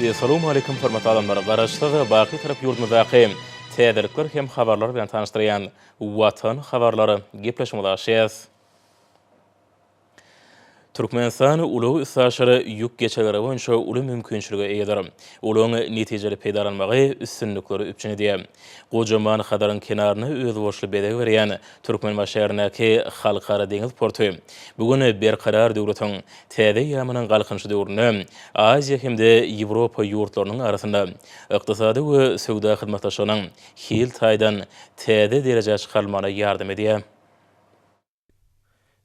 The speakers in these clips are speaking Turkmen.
Essalawmaleýkum hormatly adamlar! Garaşsyz, baky Türk ýurdumyzdaky täzelikler hem habarlar bilen tanyşdyrýan Watan habarlary gepleşigimizi açýas. Türkmenistan ulag-üstaşyr ýük geçelgeri boýunça uly mümkinçilige eýedir. Ulagyň netijeli peýdalanmagy üstünlikleri üpjün edýär. Gojaman Hazaryň kenaryna özboluşly bezeg berýän Türkmenbaşy şäherindäki Halkara deňiz porty bu gün Berkarar döwletiň Täze ýamanyň galkynyşy döwründe Aziýa hem-de Ýewropa ýurtlarynyň arasynda ykdysady we söwda hyzmatdaşlygynyň hil taýdan täze derejä çykarylmagyna ýardam edýär.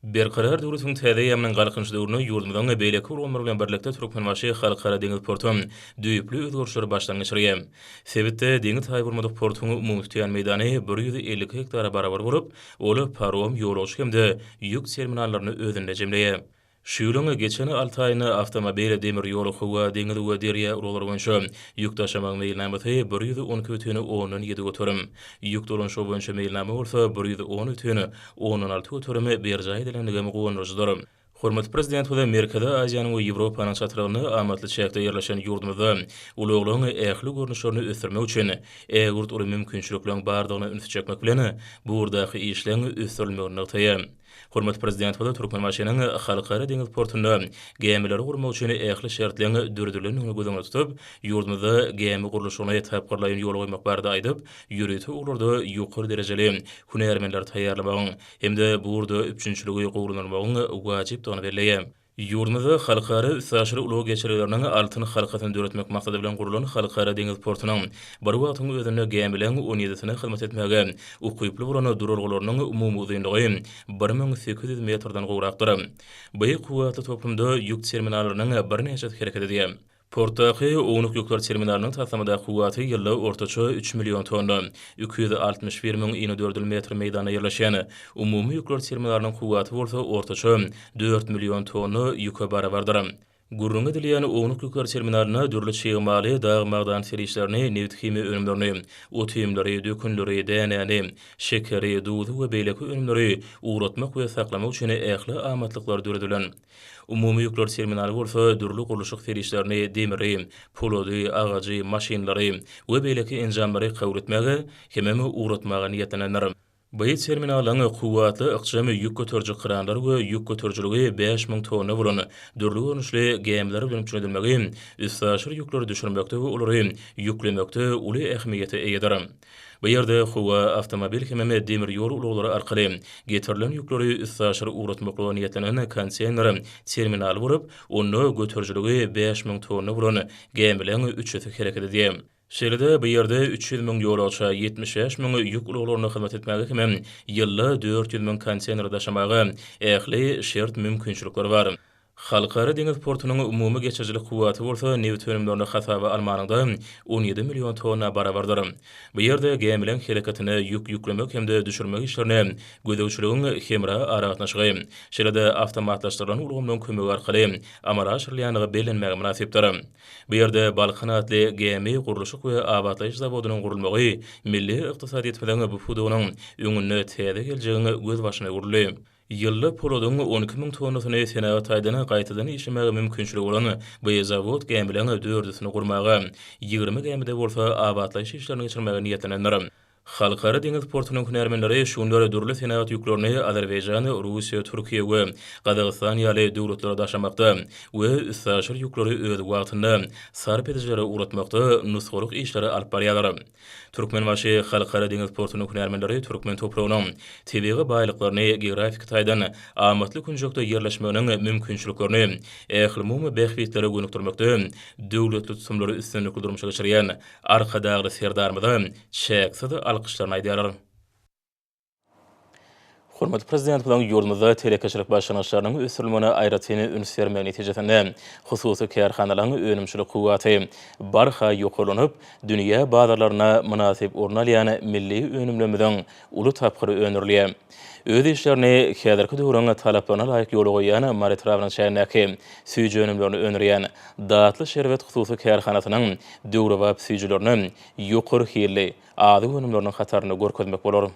Berkarar döwletiň täze ýamanyň galkynyşy döwründe ýurdumyzyň beýleki ulgamlar bilen birlikde Türkmenbaşy Halkara deňiz porty düýpli özgerişleri başdan geçirýär. Sebitde deňiz taýy bolmadyk portuň umumy tutýan meýdany bir ýüz elli iki gektara barabar bolup, Ol parom, ýolagçy hem-de ýük terminallaryny özünde jemleýär. Şu ýylyň geçen alty aýynda awtomobil, demir ýol, howa, deňiz we derýa uruglar boýunça ýük daşamagyň meýilnamasy bir ýüz on iki butyn ondan ýedi göterim, ýük dolanyşygy boýunça meýilnama bolsa bir ýüz on butyn ondan alty göterim berjaý edilendigi hem guwandyryjydyr. Hormatly Prezidentimize Merkezi Aziýanyň we Ýewropanyň çatrygynda amatly çäkde ýerleşen ýurdumyzda ulaglaryň ähli görnüşlerini ösdürmek üçin ägirt uly mümkinçilikleriň bardygyna ünsi çekmek bilen, bu ugurdaky işleň ösdürilmegini nygtaýar. Hormatly Prezidentimiz Türkmenbaşynyň Halkara deňiz portunda gämileri gurmak üçin ähli şertleň döredilendigini göz öňünde tutup, ýurdumyzda gämi gurluşygyny tapgyrlaýyn ýola goýmak barada aýdyp, ýörite ugurlarda ýokary derejeli hünärmenleri taýýarlamagyň, hem-de bu ugurda üpjünçiligi gowulandyrmagyň wajypdygyny belleýär. Ýurdumyzda halkara üstaşyr ulag geçelgeleriniň altyn halkasyny döretmek maksady bilen gurlan Halkara deňiz portunyň bir wagtyň özünde gämileriň on ýedisine hyzmat etmäge ukyply bolan duralgalarynyň umumy uzynlygy bir müň sekiz ýüz metrden gowrakdyr. Beýik kuwwatly toplumda ýük terminallarynyň birnäçesi hereket edýär. Portdaky ownuk ýükler terminalynyň taslamada kuwwaty ýylyk ortaça üç million tonna, iki ýüz altmyş bir müň inedördül metr meýdanda ýerleşen. Umumy ýükler terminalynyň kuwwaty bolsa ortaça dört million tonna ýüke barabardyr. Gürrüňi edilýän ownuk ýükler terminalyna dürli çig maly, dag-magdan serişdelerini, nebit-himiýa önümlerini, ot-iýmleri, dökünleri, dänäni, şekeri, duzy we beýleki önümleri ugratmak we saklamak üçin ähli amatlyklar döredilen. Umumy ýükler terminaly bolsa dürli gurluşyk serişdelerini, demiri, polady, agajy, maşynlary we beýleki enjamlary kabul etmäge hemem ugratmaga niýetlenendir. Bu terminalyň kuwwatly ykjam ýük göteriji kranlar we ýük göterijiligi bäş müň tonna bolan dürli görnüşli gämiler bilen üpjün edilmegi üstaşyr ýükleri düşürmekde we olary ýüklemekde uly ähmiýete eýedir. Bu ýerde howa, awtomobil hemem demir ýol ulaglary arkaly getirilen ýükleri üstaşyr ugratmaklyga niýetlenen konteýner terminaly bolup, onda göterijiligi bäş müň tonna bolan gämileriň üçüsi hereket edýär. Şeýle-de, bu ýerde üç ýüz müň ýolagça, ýetmiş bäş müň ýük ulaglarynda hyzmat etmäge hemem ýylda dört ýüz müň konteýner daşamaga ähli şert-mümkinçilikler bar. Halkara deňiz portunyň umumy geçirijilik kuwwaty bolsa nebit önümlerini hasaba almanyňda on ýedi million tonna barabardyr. Bu ýerde gämileriň hereketine, ýük ýüklemek hem-de düşürmek işlerine gözegçiligiň hemra aragatnaşygy, şeýle-de awtomatlaşdyrylan ulgamlaryň kömegi arkaly amala aşyrylýandygy bellenmäge mynasypdyr. Bu ýerde Balkan atly gämi gurluşyk we abatlaýyş zawodynyň gurulmagy milli ykdysadyýetimiziň bu pudagynyň öňünde täze geljegiň gözbaşyny urdy. Ýylda poladyň on iki müň tonnasyny senagat taýdan gaýtadan işlemäge mümkinçiligi bolan bu zawod gämileriň dördüsini gurmaga, ýigrimi gämide bolsa abatlaýyş işlerini geçirmäge niýetlenendir. Halkara deňiz portunyň hünärmenleri şu günler dürli senagat ýüklerini Azerbaýjan, Russiýa, Türkiýe we Gazagystan ýaly döwletlere daşamakda we üstaşyr ýükleri öz wagtynda sarp edijilere ugratmakda nusgalyk işleri alyp barýarlar. Türkmenbaşy Halkara deňiz portunyň hünärmenleri türkmen topragynyň tebigy baýlyklaryny geografiki taýdan amatly künjekde ýerleşmeginiň mümkinçiliklerini ählumumy bähbitlere gönükdirmekde döwletli tutumlary üstünlikli durmuşa geçirýän Arkadagly Serdarymyza çäksiz alkyşlaryny aýdýarlar. Hormatly Prezidentimiziň ýurdumyzda telekeçilik başlangyçlarynyň ösdürilmegine aýratyn üns bermegi netijesinde, hususy kärhanalaryň önümçilik kuwwaty barha ýokarlanyp, dünýä bazarlarynda mynasyp orun alýan milli önümlerimiziň uly tapgyry öndürilýär. Öz işlerini häzirki döwrüň talaplaryna laýyk ýola goýýan Mary etrabynyň çägindäki süýji önümlerini öndürýän Datly şerbet hususy kärhanasynyň döwrebap süýjülerini ýokary hilli, Azyk önümleriniň hatarynda görkezmek bolar.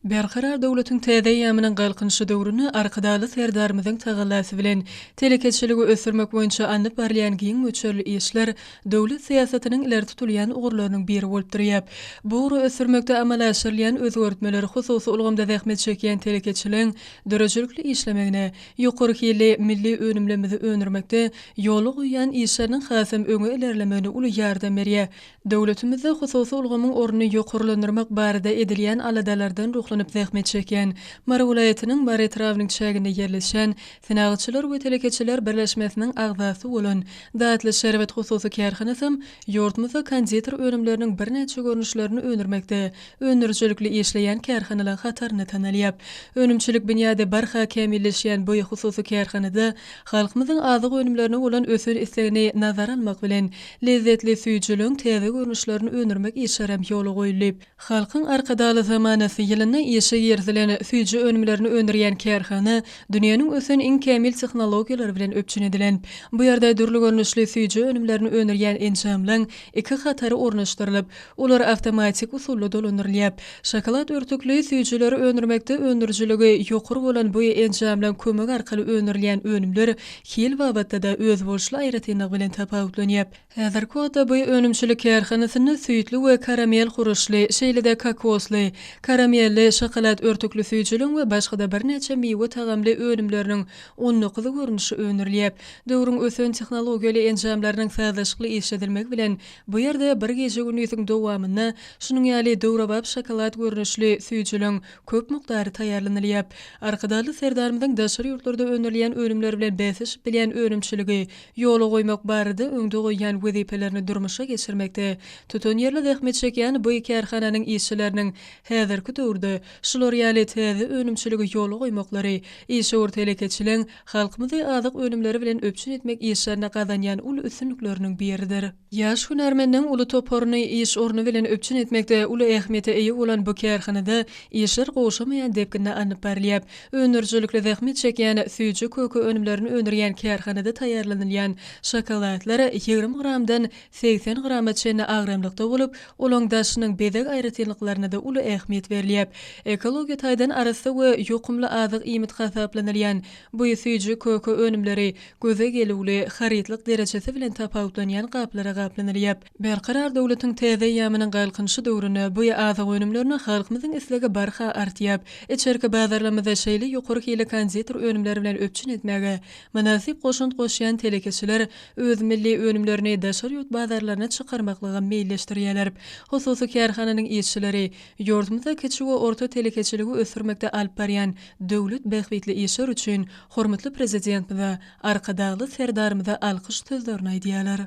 Berkarar döwletiň täze eýýamynyň Galkynyşy döwründe Arkadagly Serdarymyzyň tagallasy bilen, telekeçiligi ösdürmek boýunça alnyp barylýan giň möçberli işler döwlet syýasatynyň ileri tutulýan ugurlarynyň biri bolup durýar. Bu ugry ösdürmekde amala aşyrylýan özgertmeler hususy ulgamda zähmet çekýän telekeçiligiň döredijilikli işlemegine, ýokary hilli milli önümlerimizi öndürmekde ýola goýýan işleriniň hasam öňe ilerlemegine uly ýardam berýär. Döwletimizde hususy ulgamyň ornuny ýokarlandyrmak barada edilýän aladalardan ruhlanyp zähmet çekýän Mary welaýatynyň Mary etrabynyň çäginde ýerleşýän Senagatçylar we telekeçiler birleşmesiniň agzasy bolan Datly şerbet hususy kärhanasam ýurdumyzda konditer önümleriniň birnäçe görnüşlerini öndürmekde öndürijilikli işleýän kärhanalaň hatarynda tanalýar. Önümçilik binýady barha kämilleşýän bu hususy kärhanada halkymyzyň azyk önümlerine bolan ösen islegini nazara almak bilen, Lezzetli süýjüligiň täze görnüşlerini öndürmek işlerem ýola goýulyp, Halkyň Arkadagly zamanasy ýylynda işe girizilen süýji önümlerini öndürýän kärhana dünýäniň ösen iň kämil tehnologiýalary bilen üpjün edilen. Bu ýerde dürli görnüşli süýji önümlerini öndürýän enjamlaň iki hatary ornaşdyrylyp, Olar awtomatik usulda dolandyrylýar. Şokolad örtükli süýjüleri öndürmekde öndürijiligi ýokary bolan bu enjamlaryň kömegi arkaly öndürilýän önümler hil babatda-da özboluşly aýratynlygy bilen tapawutlanýar. Häzirki wagtda bu önümçilik kärhanasynda süýtli we karamel huruşly, şeýle-de kokosly, karamelli, şokolad örtükli süýjüligiň we başga-da birnäçe miwe tagamly önümleriniň on dokuz görnüşi öndürilýär. Döwrüň ösen tehnologiýaly enjamlarynyň sazlaşykly işledilmegi bilen Bu ýerde bir gije-gündiziň dowamynda şunuň ýaly döwrebap şokolad görnüşli süýjüliň köp mukdary taýýarlanylýar. Arkadagly Serdarymyzyň daşary ýurtlarda öndürilýän önümler bilen bäsleşip bilýän önümçiligi ýola goýmak barada öňde goýýan wezipelerini durmuşa geçirmekde tutanýerli zähmet çekýän bu kärhananyň işçileriniň häzirki döwürde şular ýaly täze önümçiligi ýola goýmaklary işewür telekeçiligiň halkymyzy azyk önümleri bilen üpjün etmek işlerinde gazanýan uly üstünlikleriniň biridir. Ýaş hünärmenleriň uly toparyny iş orny bilen üpjün etmekde uly ähmiýete eýe bolan bu kärhanada işler gowşamaýan depginde alnyp barylýar. Öndürijilikli zähmet çekýän süýji köke önümlerini öndürýän kärhanada taýýarlanylýan şokoladlar ýigrimi gramdan segsen grama çenli agramlykda bolup, olaň daşynyň bezeg aýratynlyklaryna-da uly ähmiýet berilýär. Ekologiýa taýdan arassa we ýokumly azyk iýmit hasaplanylýan bu süýji köke önümleri göze gelüwli, harytlyk derejesi bilen tapawutlanýan gaplara gaplanylýar. Berkarar döwletiň täze eýýamynyň Galkynyşy döwründe bu azyk önümlerine halkymyzyň islegi barha artýar. Içerki bazarlarymyzy şeýle ýokary hilli konditer önümler bilen üpjün etmäge mynasyp goşant goşýan telekeçiler öz milli önümlerini daşary ýurt bazarlaryna çykarmaklyga meýilleşdirýärler. Hususy kärhananyň işçileri ýurdumyzda kiçi we orta telekeçiligi ösdürmekde alyp barýan döwlet bähbitli işleri üçin hormatly Prezidentimize, Arkadagly Serdarymyza alkyş sözlerini aýdýarlar.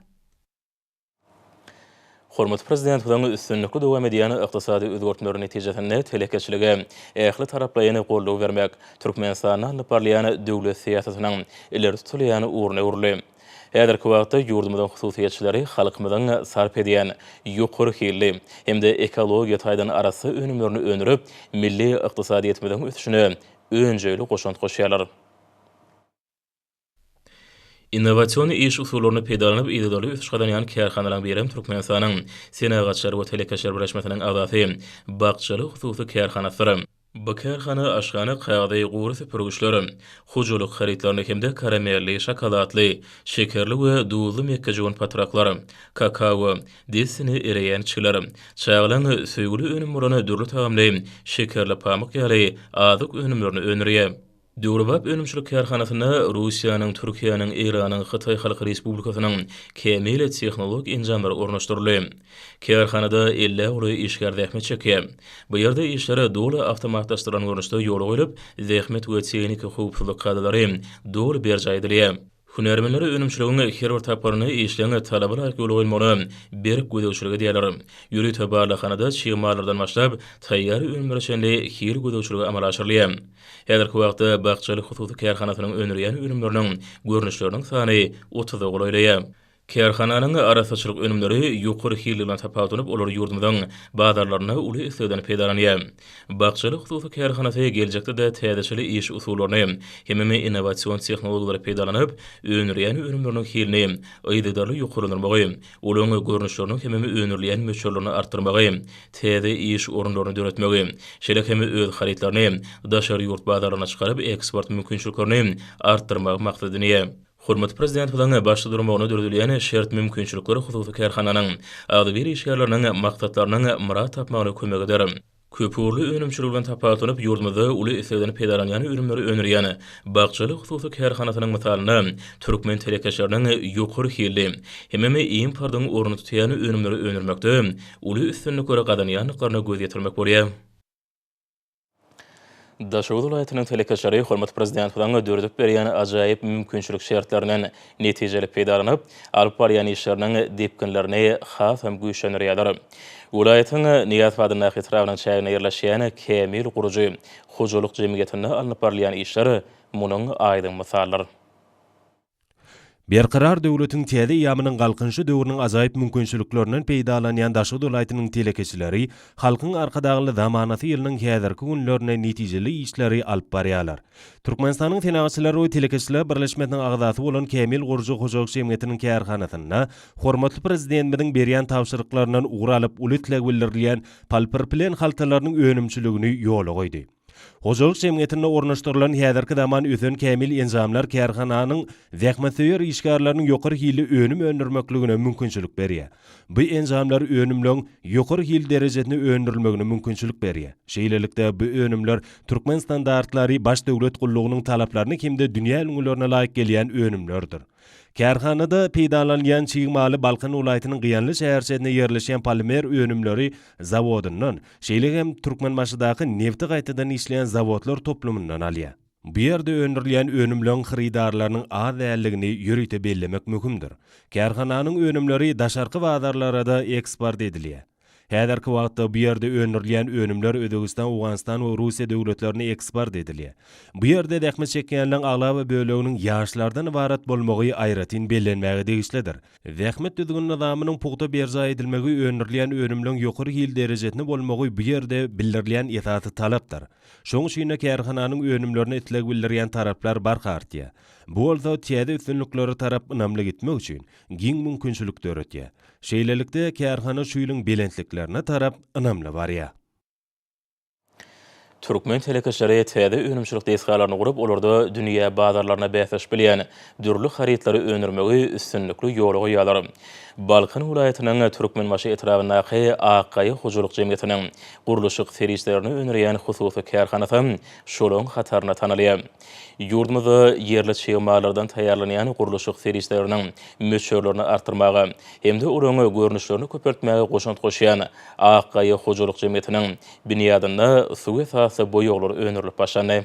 Hormatly Prezidentimiziň üstünlikli dowam edýän ykdysady özgertmeleri netijesinde telekeçilige ähli taraplaýyn goldaw bermek Türkmenistanda alnyp barylýan döwlet syýasatynyň ileri tutulýan ugruna öwrüldi. Häzirki wagtda ýurdumyzyň hususyýetçileri halkymyzyň sarp edýän ýokary hilli hem-de ekologiýa taýdan arassa önümlerini öndürip, milli ykdysadyýetimiziň ösüşine önjeýli goşant goşýarlar. Innowasion iş usullaryny peýdalanyp yzygiderli ösüş gazanýan kärhanalaryň biri hem Türkmenistanyň Senagatçylar we telekeçiler birleşmesiniň agzasy Bakjaly hususy kärhanasydyr. Bu kärhana aşhana kagyzy, gury süpürgiçler, hojalyk harytlaryny hem-de karamelli, şokoladly, şekerli we duzly mekgejöwen patraklar, kakao, dessine ereýän çiler, çagalaryň söýgüli önümi bolan dürli tagamly şekerli pamyk ýaly azyk önümlerini öndürýär. Döwrebap önümçilik kärhanasynda Russiýanyň, Türkiýäniň, Eýranyň, Hytaý Halk Respublikasynyň kämil tehnologik enjamlary ornaşdyryldy. Kärhanada ellä uly işgär zähmet çekýär. Bu ýerde işler doly awtomatlaşdyrylan görnüşde ýola goýlup, zähmet we tehniki howpsuzlyk kadalary doly berjaý edilýär. Hünärmenler önümçiligiň her bir tapgyryny işleň talaba laýyk ýola goýmagyna berk gözegçilik edýärler. Ýörite barlaghanada çig mallardan başlap, taýýar önümlere çenli hil gözegçiligi amala aşyrylýar. Häzirki wagtda Bakjaly hususy kärhanasynyň öndürýän önümleriniň görnüşleriniň sany otuza golaýlaýar. Kärhananyň arassaçylyk önümleri ýokary hil bilen tapawutlanyp, olar ýurdumyzyň bazarlarynda uly islegden peýdalanýar. Bakjaly hususy kärhanasy geljekde-de täzeçil iş usullaryny hemem innowasion tehnologiýalary peýdalanyp, öndürýän önümleriniň hilini yzygiderli ýokarlandyrmagy, olaryň görnüşlerini hemem öndürilýän möçberlerini artdyrmagy, täze iş orunlaryny döretmegi, şeýle hem öz harytlaryny daşary ýurt bazarlaryna çykaryp, eksport mümkinçiliklerini artdyrmagy maksat edinýär. Hormatly Prezidentimiziň başda durmagyna döredilýän şert-mümkinçilikler hususy kärhananyň, agzybir işgärleriniň maksatlarynyň myrat tapmagyna kömek eder. Köpugurly önümçilik bilen tapawutlanyp, ýurdumyzda uly islegden peýdalanýan önümleri öndürýän Bakjaly hususy kärhanasynyň mysalynda türkmen telekeçileriniň ýokary hilli hemem importyň ornuny tutýan önümleri öndürmekde uly üstünlikleri gazanýandyklaryna göz ýetirmek bolýar. Daşoguz welaýatynyň telekeçileri hormatly Prezidentimiziň döredip berýän ajaýyp mümkinçilik şertlerinden netijeli peýdalanyp, alyp barýan işleriniň depginlerini hasam güýçlendirýärler. Welaýatyň Nyýazbadyndaky etrabynyň çäginde ýerleşýän Kämil gurujy hojalyk jemgyýetinde alnyp barylýan işler munuň aýdyň mysaldyr. Berkarar döwletiň täze eýýamynyň Galkynyşy döwrüniň ajaýyp mümkinçiliklerinden peýdalanýan Daşoguz welaýatynyň telekeçileri Halkyň Arkadagly zamanasy ýylynyň häzirki günlerinde netijeli işleri alyp barýarlar. Türkmenistanyň Senagatçylar we telekeçiler birleşmesiniň agzasy bolan Kämil gurujy hojalyk jemgyýetiniň kärhanasynda hormatly Prezidentimiziň berýän tabşyryklaryndan ugur alyp uly isleg bildirilýän poliproplen haltalarynyň önümçiligini ýola goýdy. Hojalyk jemgyýetinde ornaşdyrylan häzirki zaman ösen kämil enjamlar kärhananyň zähmetsöýer işgärleriniň ýokary hilli önüm öndürmekligine mümkinçilik berýär. Bu enjamlar önümleň ýokary hil derejesini öndürilmegine mümkinçilik berýär. Şeýlelikde, bu önümler türkmen standartlary, baş döwlet gullugynyň talaplaryna hem-de dünýä ülňülerine laýyk gelýän önümlerdir. Kärhanada peýdalanylýan çig maly Balkan welaýatynyň Gyýanly şäherçesinde ýerleşýän polimer önümleri zawodyndan, şeýle hem Türkmenbaşydaky nebti gaýtadan işleýän zawodlar toplumyndan alýar. Bu ýerde öndürilýän önümleriň hyrydarlarynyň az däldigini ýörite bellemek möhümdir. Kärhananyň önümleri daşarky bazarlara-da eksport edilýär. Häzirki wagtda bu ýerde öndürilýän önümler Özbegistan, Owganystan we Russiýa döwletlerine eksport edilýär. Bu ýerde zähmet çekýänleriň aglaba böleginiň ýaşlardan ybarat bolmagy aýratyn bellenmäge degişlidir. Zähmet düzgün-nyzamynyň pugta berjaý edilmegi, öndürilýän önümleriň ýokary hil derejesinde bolmagy bu ýerde bildirilýän esasy talapdyr. Şonuň üçin-de kärhananyň önümlerine isleg bildirýän taraplar barha artýar. Bu bolsa täze üstünliklere tarap ynamly gitmek üçin giň mümkinçilik döretýär. Şeýlelikde, kärhana şu ýylyň belentliklerine tarap ynamly barýar. Türkmen telekeçileri täze önümçilik desgalaryny gurup, olarda dünýä bazarlaryna bäsleşip bilýän dürli harytlary öndürmegi üstünlikli ýola goýýarlar. Balkan welaýatynyň Türkmenbaşy etrabyndaky Ak gaýa hojalyk jemgyýetiniň gurluşyk serişdelerini öndürýän hususy kärhanasy şolaryň hatarynda tanalýar. Ýurdumyzda ýerli çig mallardan taýýarlanýan gurluşyk serişdeleriniň möçberlerini artdyrmaga hem-de olaryň görnüşlerini köpeltmäge goşant goşýan Ak gaýa hojalyk jemgyýetiniň binýadynda suw esasly boýaglar öndürilip başlandy.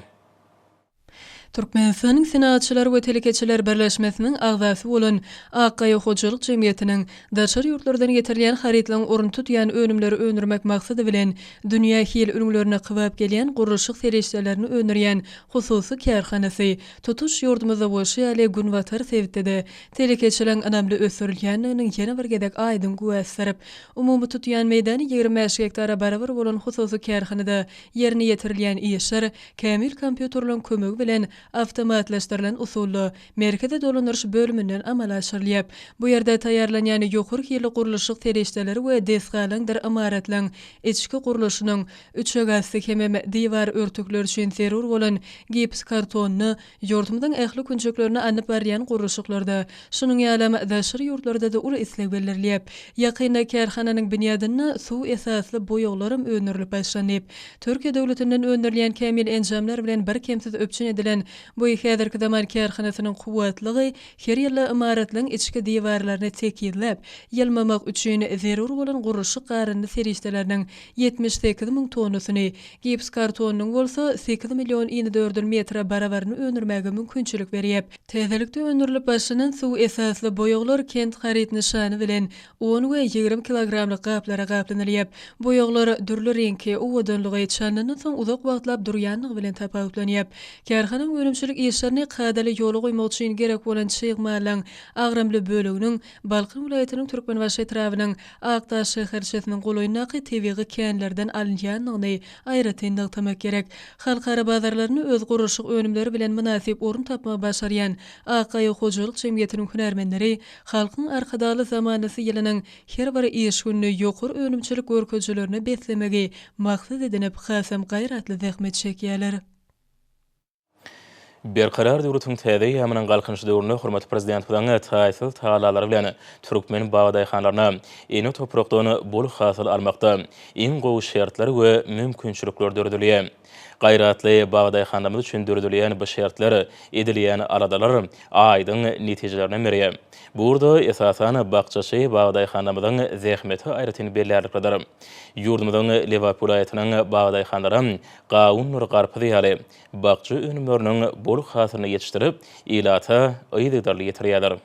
Türkmenistanyň Senagatçylar we telekeçiler birleşmesiniň agzasy bolan Ak gaýa hojalyk jemgyýetiniň Daşary ýurtlardan getirilýän harytlaryň ornuny tutýan önümleri öndürmek maksady bilen, dünýä hil ülňülerine kybap gelýän gurluşyk serişdelerini öndürýän hususy kärhanasy tutuş ýurdumyzda bolşy ýaly günbatar sebitde-de telekeçiligiň ynamly ösdürilýändiginiň ýene bir gezek aýdyň güwäsidir. Umumy tutýan meýdany ýigrimi bäş gektara barabar bolan hususy kärhanada ýerine ýetirilýän işler kämil kompýuterleriň kömegi bilen awtomatlaşdyrylan usulda Merkezi dolandyryş bölüminden amala aşyrylýar. Bu ýerde taýýarlanýan ýokary hilli gurluşyk serişdeleri we desgalaryňdyr ymaratlaryň içki gurluşynyň, üçegasty hemem diwar örtükleri üçin zerur bolan gipskartony, ýurdumyzyň ähli künjeklerinde alnyp barylýan gurluşyklarda, şunuň ýalam daşary ýurtlarda-da uly isleg bildirilýär. Ýakynda kärhananyň binýadynda suw esasly boýaglaram öndürilip başlandy. Türkiýe döwletinden öndürilýän kämil enjamlar bilen birkemsiz üpjün edilen Bu häzirki zaman kärhanasynyň kuwwatlygy her ýylda ymaratlaryň içki diwarlaryny tekizläp, ýylmamak üçin zerur bolan gurluşyk garyndy serişdeleriniň ýetmiş sekiz müň tonnasyny, gips kartonynyň bolsa sekiz million inedördül metre barabaryny öndürmäge mümkinçilik berýäp, Täzelikde öndürilip başlanan suw esasly boýaglar kent haryt nyşany bilen On we ýigrimi kilogramlyk gaplara gaplanylyp, boýaglar dürli reňki, owadanlygy, çalnandan soň uzak wagtlap durýanlygy bilen tapawutlanyp, kärhananyň önümçilik işlerini kadaly ýola goýmak üçin gerek bolan çig malyň agramly böleginiň Balkan welaýatynyň Türkmenbaşy etrabynyň Akdaş şäherçesiniň golaýyndaky tebigy känlerden alynýanlygyny aýratyn nygtamak gerek. Halkara bazarlarynda öz gurluşyk önümleri bilen mynasyp orun tapmagy başarýan Akgaýa hojalyk jemgyýetiniň hünärmenleri Halkyň Arkadagly zamanasy ýylynyň her bir iş gününi ýokary önümçilik görkezijilerine beslemegi maksat edinip hasam gaýratly zähmet çekýärler. Berkarar döwletiň täze eýýamynyň Galkynyş döwründe hormatly Prezidentimiziň taýsyz tagallalary bilen türkmen bugdaýhanlaryna ene toprakdan bol hasyl almakda iň gowy şertler we mümkinçilikler döredilýär. Gaýratly bagdaýhanlarymyz üçin döredilýän bu şertler, edilýän aladalar aýdyň netijelerden berýär. Bu ugurda, esasan, bakjaçy bagdaýhanlarymyzyň zähmeti aýratyn bellärliklidir. Ýurdumyzyň Lebap welaýatynyň bagdaýhanlary gawundyr garpyz ýaly bakja önümleriniň bol hasylyny ýetişdirip, ilata yzygiderli ýetirýärler.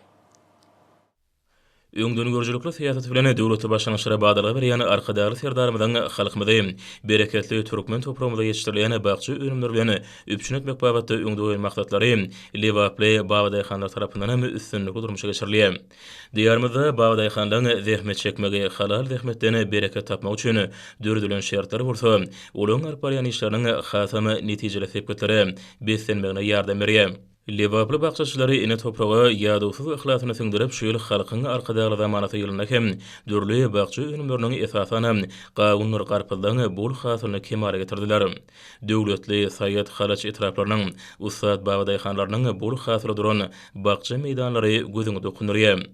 Öňdengörüjilikli syýasaty bilen döwleti başlangyçlara badalga berýän Arkadagly Serdarymyzyň halkymyzy bereketli türkmen topragymyzda ýetişdirilýän bakja önümleri bilen üpjün etmek babatda öňde goýan maksatlary lebaply babadaýhanlar tarapyndan hem üstünlikli durmuşa geçirilýär. Diýarymyzda babadaýhanlaryň zähmet çekmegi, halal zähmetden bereket tapmagy üçin döredilen şertler bolsa, olaryň alyp barýan işleriniň hasam netijeli sepgitlere beslenmegine ýardam berýär. Lebaply bakjaçylary ene topraga ýadawsyz yhlasyny siňdirip, şu ýyl Halkyň Arkadagly zamanasy ýylynda hem dürli bakja önümleriniň, esasanam, gawundyr garpyzlaň bol hasylyny kemala getirdiler. Döwletli, Saýat, Halaç etraplarynyň ussat babadaýhanlarynyň bol hasyly duran bakja meýdanlary gözüňi dokundyrýar.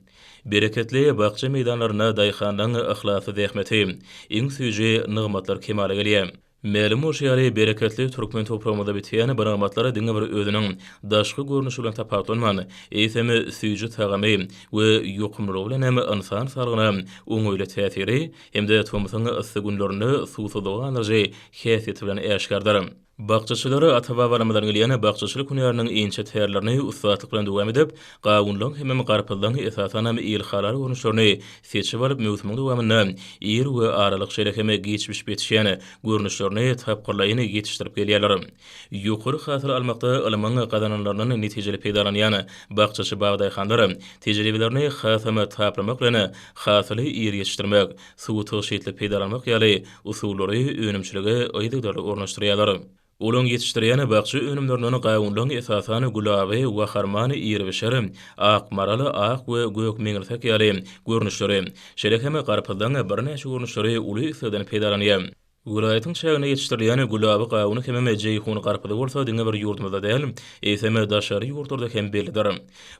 Bereketli bakja meýdanlarynda daýhanlaň yhlasly zähmeti, iň süýji nygmatlar kemala gelýär. Mälim bolşy ýaly, bereketli türkmen topragymyzda bitýän bu nygmatlar diňe bir özüniň daşky görnüşi bilen tapawutlanman, eýsem, süýji tagamy we ýokumlylygy bilen hem ynsan saglygyna oňaýly täsiri hem-de tomsuň yssy günlerinde suwsuzlygy gandyryjy häsiýeti bilen äşgärdir. Bakjaçylar ata-babalarymyzdan gelýän bakjaçylyk hünäriniň inçe tärlerini ussatlyk bilen dowam edip, Gawundan hemem garpyzdan esasanam ilhalar görnüşlerini seçip alyp möwsümiň dowamynda ir we aralyk şeýle hem giç bişip ýetişýän görnüşlerini tapgyrlaýyn ýetişdirip gelýärler. Ýokary hasyl almakda ylmyň gazananlaryndan netijeli peýdalanýan bakjaçy bagdaýhanlar tejribelerini hasam taplamak bilen hasyly ir ýetişdirmek, suwy tygşytly peýdalanmak ýaly usullary önümçilige yzygiderli ornaşdyrýarlar. Olaň ýetişdirýän bakja önümlerinden gawunlaň esasan gulaby, waharman, iribişer, ak maral, ak we gök meňirsek ýaly görnüşleri, şeýle hem garpyzlaň birnäçe görnüşleri uly islegden peýdalanýar. Welaýatyň çäginde ýetişdirilýän gulaby gawuny hemem jeýhun garpyzy bolsa diňe bir ýurdumyzda däl, eýsem daşary ýurtlarda hem bellidir.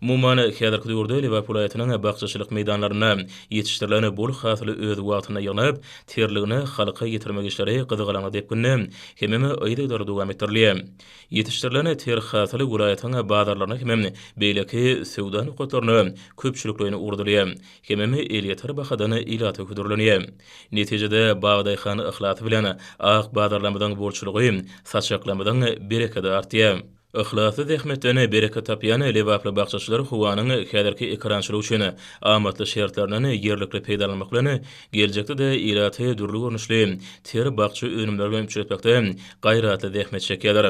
Umuman, häzirki döwürde Lebap welaýatynyň bakjaçylyk meýdanlarynda ýetişdirilen bol hasyly öz wagtynda ýygnap, terligini halka ýetirmek işleri gyzgalaňly depginde hemem yzygiderli dowam etdirilýär. Ýetişdirilen ter hasyl welaýatyň bazarlaryna hemem beýleki söwda nokatlaryna köpçülikleýin ugradylýar hemem elýeter bahadan ilata hödürlenýär. Netijede, bag-daýhan yhlasy bilen ak bazarlarymyzyň bolçulygy, saçaklarymyzyň berekedi artýar. Yhlasly zähmetden bereket tapýan lebaply bakjaçylar howanyň häzirki ekerançylyk üçin amatly şertlerinden ýerlikli peýdalanmak bilen, geljekde-de ilaty dürli görnüşli ter bakja önümleri bilen üpjün etmekde gaýratly zähmet çekýärler.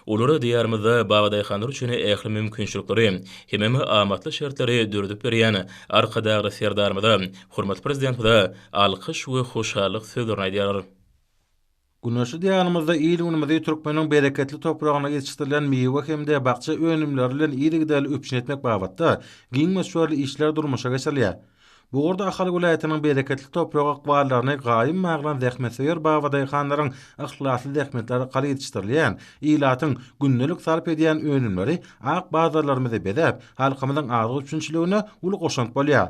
Olar Diýarymyzda babadaýhanlar üçin ähli mümkinçilikleri hemem amatly şertleri döredip berýän Arkadagly Serdarymyza, hormatly Prezidentimize alkyş we hoşallyk sözlerini aýdýarlar. Güneşli Diýarymyzda il-günümizi türkmeniň bereketli topragynda ýetişdirilen miwe hem-de bakja önümleri bilen yzygiderli üpjün etmek babatda giň möçberli işler durmuşa geçirilýär. Bu ugurda Ahal welaýatynyň bereketli toprak ykballaryny gaýym baglan zähmetsöýer babadaýhanlaryň yhlasly zähmeti arkaly ýetişdirilýän, ilatyň gündelik sarp edýän önümleri ak bazarlarymyzy bezäp, halkymyzyň azyk üpjünçiligine uly goşant bolýar.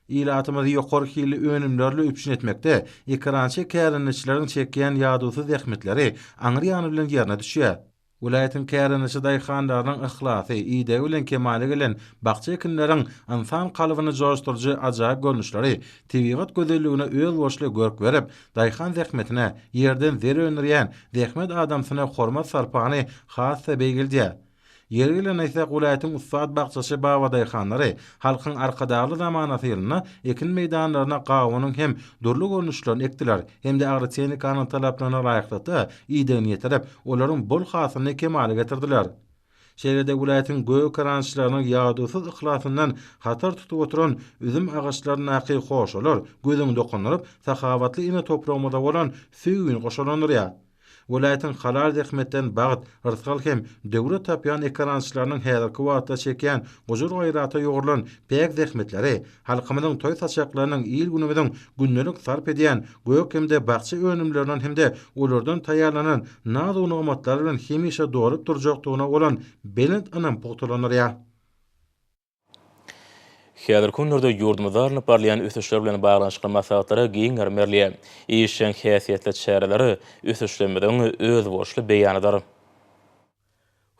Ilatymyzy ýokary hilli önümlerle üpjün etmekde ekerançy kärendeçileriň çekýän ýadawsyz zähmetleri aňry ýany bilen ýerine düşýär. Welaýatyň kärendeçi daýhanlarynyň yhlasy, idegi bilen kemala gelen bakja ekinleriň ynsan kalbyny joşduryjy ajaýyp görnüşleri tebigat gözelligine özboluşly görk berip, daýhan zähmetine, ýerden zer öndürýän zähmet adamsyna hormat-sarpany has-da beýgeldýär. Ýeri gelende aýtsak, welaýatyň ussat bakjaçy babadaýhanlary Halkyň Arkadagly zamanasy ýylynda ekin meýdanlaryna gawunyň hem dürli görnüşlerini ekdiler hem-de agrotehnikanyň talaplaryna laýyklykda idegini ýetirip, olaryň bol hasylyny kemala getirdiler. Şeýle-de welaýatyň gökerançylarynyň ýadawsyz yhlasyndan hatar tutup oturan üzüm agaçlaryndaky hoşalar gözüňi dokandyryp, sahawatly ene topragymyza bolan söýgini goşalandyrýar. Welaýatyň halal zähmetden bagt, rysgal hem döwlet tapýan ekerançylarynyň häzirki wagtda çekýän gujur-gaýrata ýugrulan päk zähmetleri, halkymyzyň toý-saçaklarynyň, il-günümiziň gündelik sarp edýän gök hem-de bakja önümlerinden hem-de olardan taýýarlanan naz-u-nygmatlar bilen hemişe dolup durjakdygyna bolan belent ynam pugtalandyrýar. Häzirki günlerde ýurdumyzda alnyp barylýan ösüşler bilen baglanyşykly maslahatlara giň ýerm berilýär. Işjeň häsiýetli çäreler ösüşlerimiziň özboluşly beýanydyr.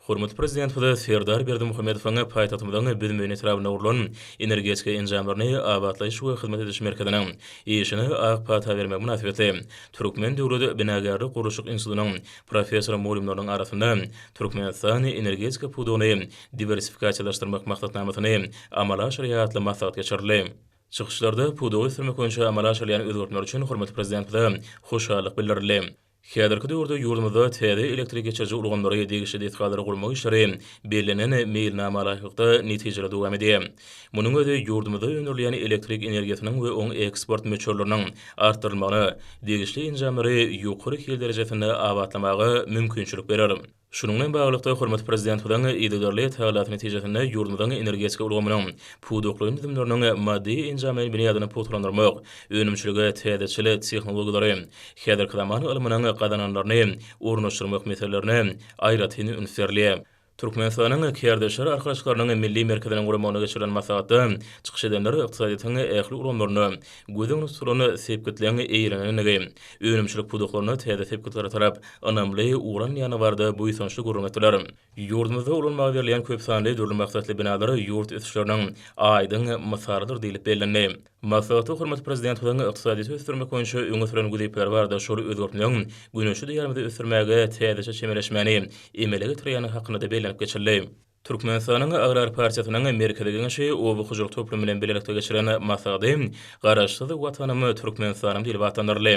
Hormatly Prezidentimiz Serdar Berdimuhamedowyň paýtagtymyzyň Büzmeýin etrabynda gurlan Energetika enjamlaryny abatlaýyş we hyzmat ediş merkeziniň işine ak pata bermegi mynasybetli Türkmen döwlet binagärlik-gurluşyk institutynyň professor-mugallymlarynyň arasynda Türkmenistan energetika pudagyny diwersifikasiýalaşdyrmak maksatnamasyny amala aşyrýar atly maslahat geçirildi. Çykyşlarda pudagy ösdürmek boýunça amala aşyrylýan özgertmeler üçin hormatly Prezidentimize hoşallyk bildirildi. Häzirki döwürde ýurdumyzda täze elektrik geçiriji ulgamlary, degişli desgalary gurmak işleri bellenen meýilnama laýyklykda netijeli dowam edýär. Munuň özi ýurdumyzda öndürilýän elektrik energiýasynyň we oň eksport möçberleriniň artdyrylmagyna, degişli enjamlary ýokary hil derejesinde abatlamaga mümkinçilik berer. Şunuň bilen baglylykda, hormatly Prezidentimiziň yzygiderli tagalasy netijesinde ýurdumyzyň energetika ulgamynyň pudakly düzümleriniň maddy-enjamlaýyn binýadyny pugtalandyrmak, önümçilige täzeçil tehnologiýalary, häzirki zaman ylmynyň gazananlaryny ornaşdyrmak meselelerine aýratyn üns berilýär. Türkmenistanyň Kärdeşler arkalaşyklarynyň Milli merkeziniň guramagynda geçirilen maslahatda çykyş edenler ykdysadyýetiň ähli ulgamlarynda göz öňünde tutulan sepgitleň eýelenendigi, Önümçilik pudaklarynda täze sepgitlere tarap ynamly ugralmaýany barada buýsançly gürrüň etdiler. Ýurdumyzda ulanmaga berilýän köp sanly dürli maksatly binalar ýurt ösüşleriniň aýdyň mysalydyr diýlip bellendi. Maslahatda hormatly Prezidentimiziň ykdysadyýeti ösdürmek boýunça öňe süren wezipeleri barada şol özgertmeň Güneşli Diýarymyzy ösdürmäge täzeçe çemeleşmäni emele getirýändigi hakynda-da bellenip geçildi. Türkmenistanyň Agrar partiýasynyň Merkezi Geňeşi Oba hojalyk toplumy bilen bilelikde geçiren maslahaty Garaşsyz Watanym, Türkmenistanym diýlip atlandyryldy.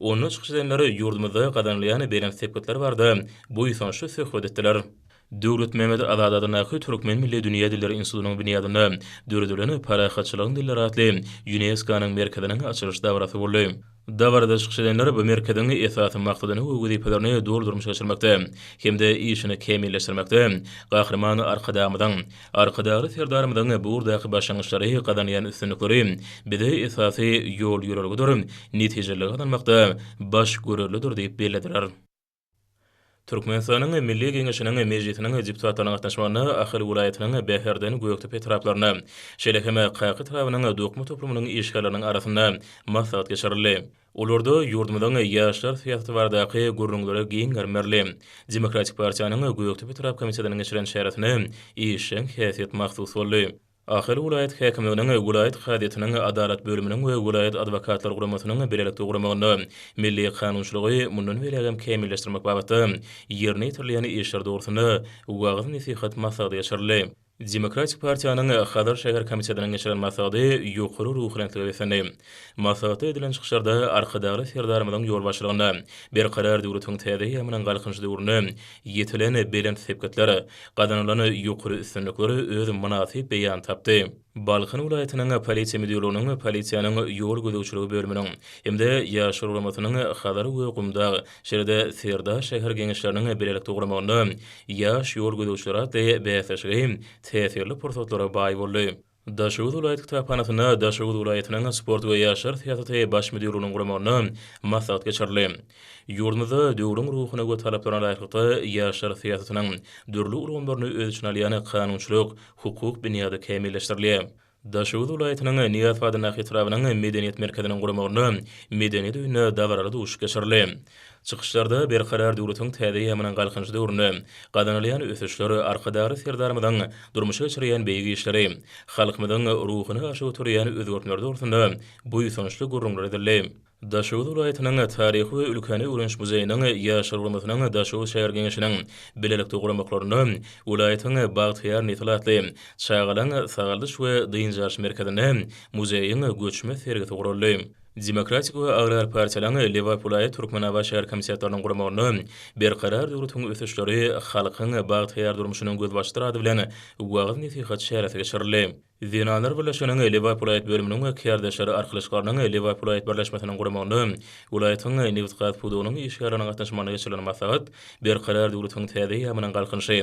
Onda çykyş edenler ýurdumyzda gazanylýan belent sepgitler barada buýsançly söhbet etdiler. Döwletmämmet Azady adyndaky Türkmen milli dünýä dilleri institutynyň binýadynda döredilen Parahatçylygyň dilleri atly ÝUNESKO-nyň merkeziniň açylyş dabarasy boldy. Dabarada çykyş edenler bu merkeziň esasy maksadyny we wezipelerini doly durmuşa geçirmekde hem-de işini kämilleşdirmekde Gahryman Arkadagymyzyň, Arkadagly Serdarymyzyň bu ugurdaky başlangyçlary, gazanýan üstünlikleri bize esasy ýol-ýörelgedir, netijeleri gazanmakda baş görerlidir diýip bellediler. Türkmenistanyň Milli Geňeşiniň Mejlisiniň deputatlarynyň gatnaşmagynda Ahal welaýatynyň Bäherden, Gökdepe etraplarynda, şeýle hem Kaka etrabynyň dokma toplumynyň işgärleriniň arasynda maslahat geçirildi. Olarda ýurdumyzyň ýaşlar syýasaty baradaky gürrüňlere giňgerme berildi. Demokratik partiýanyň Gökdepe etrap komitetiniň geçiren çäresine işjeň häsiýet mahsus boldy. Ahal welaýat häkimliginiň, welaýat kazyýetiniň, Adalat bölüminiň we welaýat adwokatlar guramasynyň bilelikde guramagynda milli kanunçylygy mundan beýlägem kämilleşdirmek babatda ýerine ýetirilýän işler dogrusynda wagyz-nesihat maslahaty geçirildi. Demokratik partiýanyň Hazar şäher komitetiniň geçiren maslahaty ýokary ruhubelentlige beslendi. Maslahatda edilen çykyşlarda Arkadagly Serdarymyzyň ýolbaşçylygynda Berkarar döwletiň täze eýýamynyň Galkynyş döwründe ýetilen belent sepgitler, gazanylan ýokary üstünlikler öz mynasyp beýanyny tapdy. Balkan welaýatynyň Polisiýa müdirliginiň Polisiýanyň ýol gözegçiligi bölüminiň hem-de Ýaşlar guramasynyň Hazar we Gumdag, şeýle-de Serdar şäher Geňeşleriniň bilelikde guramagynda Ýaş ýol gözegçileri atly bäsleşigi täsirli pursatlara baý boldy. Daşoguz welaýat kitaphanasynda Daşoguz welaýatynyň Sport we ýaşlar syýasaty Baş müdirliginiň guramagynda maslahat geçirildi. Ýurdumyzda döwrüň ruhuna we talaplaryna laýyklykda ýaşlar syýasatynyň dürli ulgamlaryny öz içine alýan kanunçylyk, hukuk binýady kämilleşdirilýär. Daşoguz welaýatynyň Nyýazow adyndaky etrabynyň Medeniýet merkeziniň guramagynda Medeniýet öýünde dabaraly duşuş geçirildi. Çykyşlarda Berkarar döwletiň täze ýamynyň Galkynyş döwründe gazanylýan ösüşler, Arkadagly Serdarymyzyň durmuşa geçirýän beýik işleri, halkymyzyň ruhuny aşa göterýän özgertmeler dogrusynda buýsançly gürrüňler edildi. Daşoguz welaýatynyň Taryhy we ülkäni öwreniş muzeýiniň Ýaşlar guramasynyň Daşoguz şäher geňeşiniň bilelikde guramaklarynda welaýatyň Bagtyýar nesil atly çagalaryň sagaldyş we dynç alyş merkezinde muzeýiň göçme sergisi guraldy. Demokratik we Agrar partiýalaryň Lebap-welaýat Türkmenabat şäher komitetleriniň guramagynda Berkarar döwletiň ösüşleri, halkyň bagtyýar durmuşynyň gözbaşydyr ady bilen wagyz-nesihat çäresi geçirildi. Zenanlar birleşiginiň Lebap welaýat bölüminiň we kärdeşler arkalaşyklarynyň Lebap welaýat birleşmesiniň guramagynda welaýatyň nebitgaz pudagynyň işgärleriniň gatnaşmagynda geçirilen maslahat Berkarar döwletiň täze eýýamynyň Galkynyşy,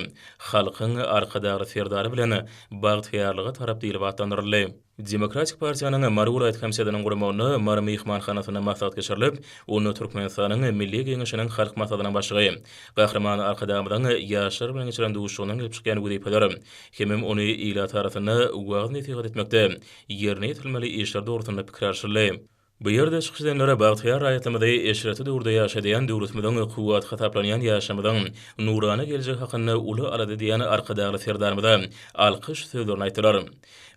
halkyň Arkadagly Serdary bilen bagtyýarlyga tarap diýlip atlandyryldy. Demokratik partiýanyň Mary welaýat komitetynyň guramagynda Mary myhmanhanasynda maslahat geçirilip, onda Türkmenistanyň Milli Geňeşiniň Halk Maslahatynyň Başlygy Gahryman Arkadagymyzyň ýaşlar bilen geçiren duşuşygyndan gelip çykýan wezipeler hemem ony ilat arasynda wagyz-nesihat etmekde ýerine ýetirilmeli işler dogrusynda pikir alşyldy. Bu ýerde çykyş edenlere bagtyýar raýatymyzy eşretli döwürde ýaşadýan döwletimiziň kuwwaty hasaplanýan ýaşymyzyň nurana geljegi hakynda uly alada edýän Arkadagly Serdarymyza alkyş sözlerini aýtdylar.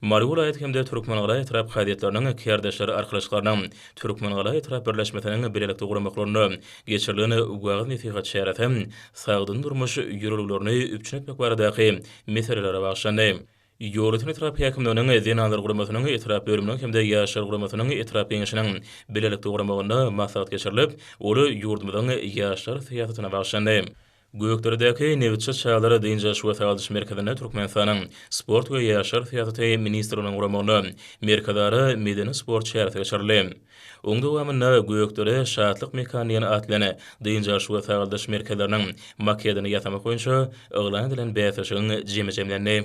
Mary welaýat hem-de Türkmengala etrap kazyýetleriniň kärdeşler arkalaşyklarynyň Türkmengala etrap birleşmesiniň bilelikde guramaklarynda geçirilen wagyz-nesihat çäresi sagdyn durmuş ýörelgelerini üpjün etmek baradaky meselelere bagyşlandy. Ýolöten etrap häkimliginiň Zenanlar guramasynyň etrap bölüminiň hem-de Ýaşlar guramasynyň etrap geňeşiniň bilelikde guramagynda maslahat geçirilip, ol ýurdumyzyň ýaşlar syýasatyna bagyşlandy. Gökderedäki Nebitçi çagalar dynç alyş we sagaldyş merkezinde Türkmenistanyň Sport we ýaşlar syýasaty ministrliginiň guramagynda Merkezara medeni-sport çäresi geçirildi. Oň dowamynda Gökdere, Şatlyk mekany diýen atly dynç alyş we sagaldyş merkezleriniň maketini ýasamak boýunça yglan edilen bäsleşigiň jemi jemlendi.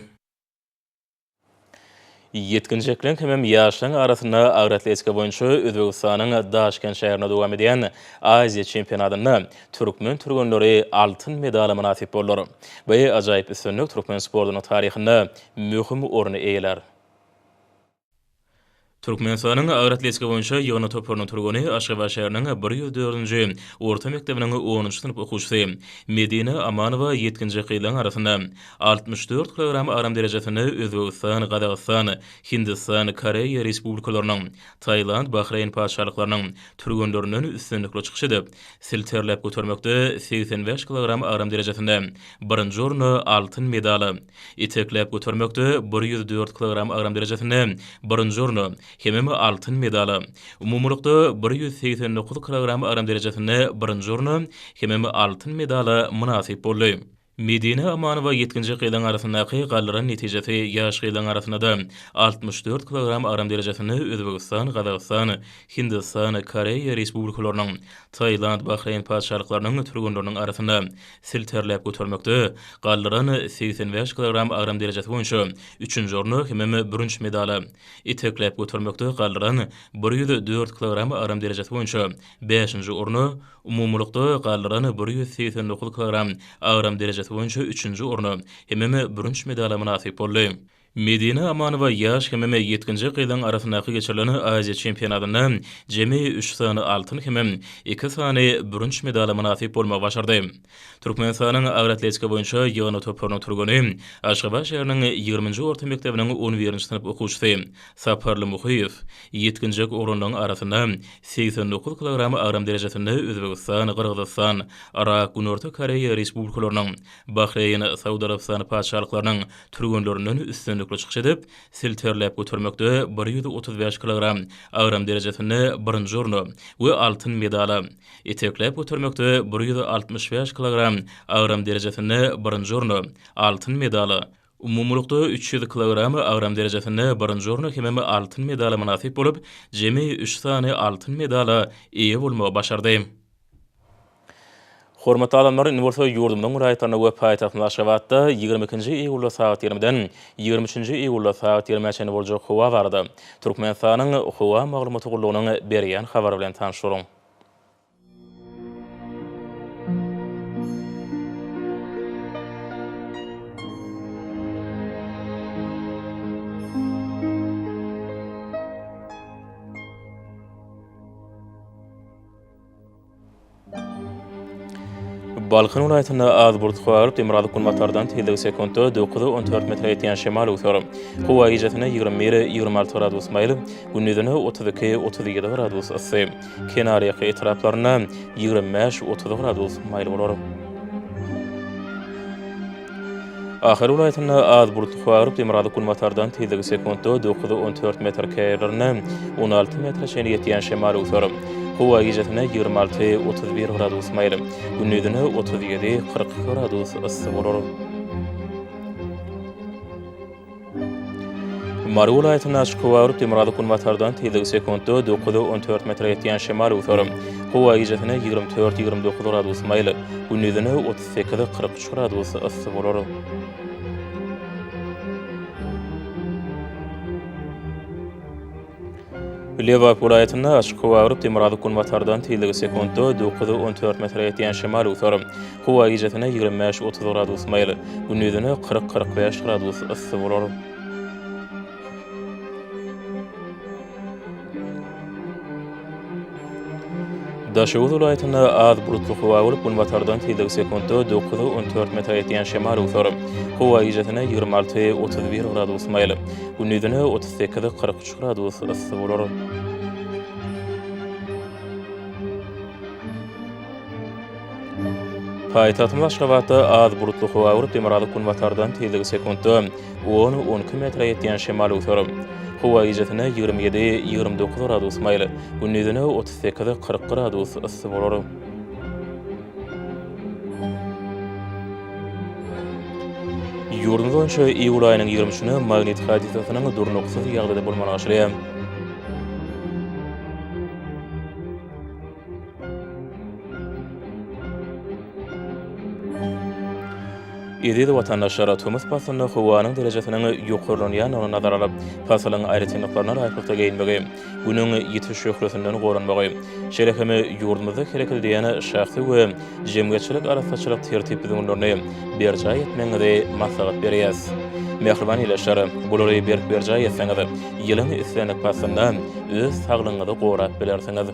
Ýetginjekleriň hemem ýaşlaryň arasynda agyr atletika boýunça Özbegistanyň Daşkent şäherinde dowam edýän Aziýa çempionatynda türkmen türgenleri altyn medala mynasyp boldular. Bu ajaýyp üstünlik türkmen sportunyň taryhynda möhüm orny eýelär. Türkmenistanyň agroatletika boýunça ýygyndy toparynyň türgeni Aşgabat şäheriniň bir ýüz dördünji orta mekdebiniň onunjy synp okuwçysy Medine Amanowa ýetginjek gyzlaryň arasynda altmyş dört kilogram agram derejesinde Özbegistan, Gazagystan, Hindistan, Koreýa Respublikalarynyň, Tailand, Bahreýn Patyşalyklarynyň türgenlerinden üstünlikli çykyş edip, silterläp götermekde segsen bäş kilogram agram derejesinde birinji orny, altyn medaly, Itekläp götermekde bir ýüz dört kilogram agram derejesinde birinji orny, hemem altyn medaly, umumylykda bir ýüz segsen dokuz kilogram agram derejesinde birinji orny, hemem altyn medaly mynasyp boldy. Medine Amanowa ýetginjek gyzyň arasyndaky galdyran netijesi ýaş gyzyň arasynda-da altmyş dört kilogram agram derejesinde Özbegistan, Gazagystan, Hindistan, Koreýa Respublikalarynyň, Tailand, Bahreýn Patyşalyklarynyň türgenleriniň arasynda silterläp götermekde galdyran segsen bäş kilogram agram derejesi boýunça üçünji orna hemem bürünç medala, itekläp götermekde galdyran bir ýüz dört kilogram agram derejesi boýunça bäşinji orna, umumylykda galdyran bir ýüz segsen dokuz kilogram agram derejesi boýunça üçünji orna hemem bürünç medala mynasyp boldy. Medine Amanowa ýaş hemem ýetginjek gyzlaryň arasyndaky geçirilen Aziýa çempionatynda jemi üç sany altyn hemem iki sany bürünç medala mynasyp bolmagy başardy. Türkmenistanyň agyr atletika boýunça ýygyndy toparynyň türgeni, Aşgabat şäheriniň ýigriminji orta mekdebiniň on birinji synp okuwçysy Saparly Muhyýew ýetginjek oglanlaryň arasynda segsen dokuz kilogram agram derejesinde Özbegistan, Gyrgyzystan, Yrak, Günorta Koreýa Respublikalarynyň, Bahreýn, Saud Arabystany Patyşalyklarynyň, türgenlerinden üstünlikli çykyş edip, silterläp götermekde bir ýüz otuz bäş kilogram agram derejesinde birinji orny we altyn medala, itekläp götermekde bir ýüz altmyş bäş kilogram agram derejesinde birinji orny, altyn medala, umumylykda üç ýüz kilogram agram derejesinde birinji orny hemem altyn medala mynasyp bolup, jemi üç sany altyn medala eýe bolmagy başardy. Hormatly adamlar, indi bolsa ýurdumyzyň raýatlaryna we paýtagtymyz Aşgabatda ýigrimi ikinji iýulda sagat ýigrimiden ýigrimi üçünji iýulda sagat ýigrimä çenli boljak howa barada Türkmenistanyň Howa maglumaty gullugynyň berýän habary bilen tanyş boluň. Balkan welaýatynda az burt galyp, demirgazyk günbatardan tizligi sekuntda dokuz, on dört metre ýetýän şemal öwser. Howa gijesine ýigrimi bir, ýigrimi alty gradus maýyl, gündizine otuz iki, otuz ýedi gradus yssy. Kenarýaka etraplarynda ýigrimi bäş, otuz gradus maýyl bolar. Ahal welaýatynda az bulutly howa agyryp, demirgazyk-günbatardan tizligi sekuntda dokuz, on dört metr, käýerlerinde on alty metre çenli ýetýän şemal öwser. Howa gijesine ýigrimi alty, otuz bir gradus maýyl, gündizine otuz ýedi, kyrk iki gradus yssy bolar. Mary welaýatynda açyk howa aryp, demirgazyk günbatardan tizligi sekuntda dokuz, on dört metre ýetýän şemal öwser. Howa gijesine ýigrimi dört, ýigrimi dokuz gradus maýyl, gündizine otuz sekiz, kyrk üç gradus yssy bolar. Lebap welaýatynda açyk howa agyryp, demirgazyk günbatardan tizligi sekuntda dokuz, on dört metre ýetýän şemal öwser. Howa gijesine ýigrimi bäş, otuz gradus maýyl, gündizine kyrk, kyrk bäş gradus yssy bolar. Daşoguz welaýatynda az bulutly howa bolup, günbatardan tizligi sekuntda dokuz, on dört metre ýetýän şemal öwser. Howa gijesine ýigrimi alty, otuz bir gradus maýyl, gündizine otuz sekiz, kyrk üç gradus yssy bolar. Paýtagtymyz Aşgabatda az bulutly howa bolup, demirgazyk-günbatardan tizligi sekuntda On, on iki metre ýetýän şemal öwser. Howa gijesine ýigrimi ýedi, ýigrimi dokuz gradus maýyl, gündizine otuz sekiz, kyrk gradus yssy bolar. Ýurdumyz boýunça iýul aýynyň ýigrimi üçüne magnit hadisasynyň durnuksyz ýagdaýda bolmagy aşyrýar. Eziz watandaşlar, tomus paslynda howanyň derejesiniň ýokarlanýandygyny nazara alyp, pasylyň aýratynlyklaryna laýyklykda geýinmegi, Günüň ýiti şöhlesinden goranmagy, şeýle hem ýurdumyzda hereket edýän şahsy we jemgyýetçilik arassaçylyk tertip-düzgünlerini berjaý etmegiňizi maslahat berýäs. Mähriban ildeşler, bulary berk berjaý etseňiz, ýylyň islendik paslynda öz saglygyňyzy gorap bilersiňiz.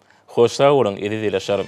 Hoş sag boluň eziz ilaçlarym.